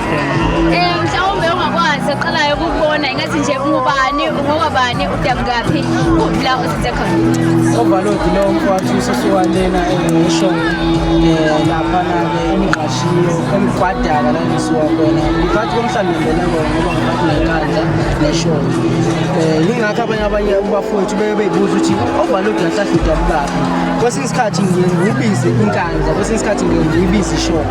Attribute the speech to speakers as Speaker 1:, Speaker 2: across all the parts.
Speaker 1: um mhlawumbe ongakwazi oqalayo ukubona ingathi nje ungubani ungokabani udabukaphi la uzinze khona ovalodi lo
Speaker 2: mfowethu usesiwalena engisho um eh, laphana-ke emgqashiyo emgwadala la ngisuka khona ngiphathi komhlawumbe ngibele kona ngoba ngiphathi nenkandla neshona um yingakho abanye abanye ubafowethu beke beyibuza ukuthi ovalodi ngahlahla udabukaphi kwesinye isikhathi ngiye ngiwubize inkandla kwesinye isikhathi ngiye ngiyibize ishona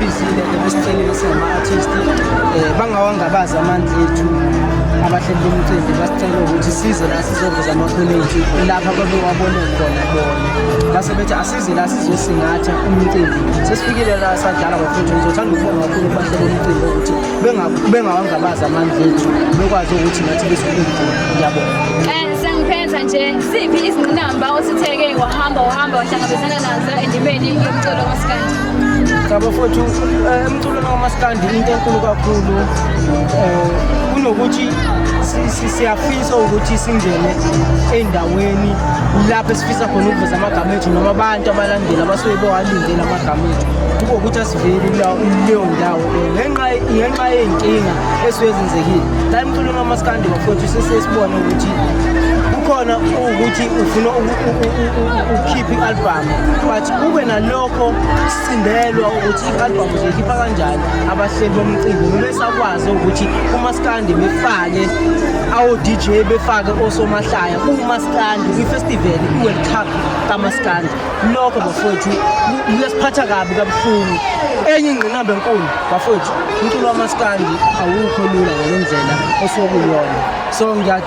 Speaker 2: Bizile ebesicela ukuthi ngama-artist um bangawangabazi amandla ethu abahleli bomcimbi basicela ukuthi size la sizoveza amakhono ethu lapha babewabone khona bona base bethi asize la sizosingatha umcimbi sesifikile la sadlala bafuthu ngizothanda ukubonga kakhulu kubahleli bomcimbi ukuthi bengawangabazi amandla ethu bekwazi ukuthi nathi besikhulukulu ngiyabona eh, sengiphenza nje
Speaker 1: siphi izinqinamba ositheke wahamba wahamba wahlangabezana nazo endimeni yomculo wasikanje ngabafowethu
Speaker 2: eh, emculweni kamaskandi into enkulu kakhulu um kunokuthi siyafisa ukuthi singene ey'ndaweni lapho esifisa khona ukuveza amagama ethu noma abantu abalandeli abasuke bewalindele amagama ethu kube ukuthi asiveli kuleyo ndawo ngenxa yey'nkinga esuke zenzekile la emculweni wamaskandi bafowethu sesesibone ukuthi kukhona ukuthi ufuna ukhiphe i-album but kube nalokho sindelwa ukuthi i-album uzoyikhipha kanjani abahleli bomcimbi bebesakwazi ukuthi umaskandi befake awo-dj befake osomahlaya kuwumaskandi kwifestival i-world cup kamaskandi lokho bafowethu kuyasiphatha kabi kabuhlungu enye ingqinamba enkulu bafowethu umculo wamaskandi awukho lula ngale ndlela osuke kuyona so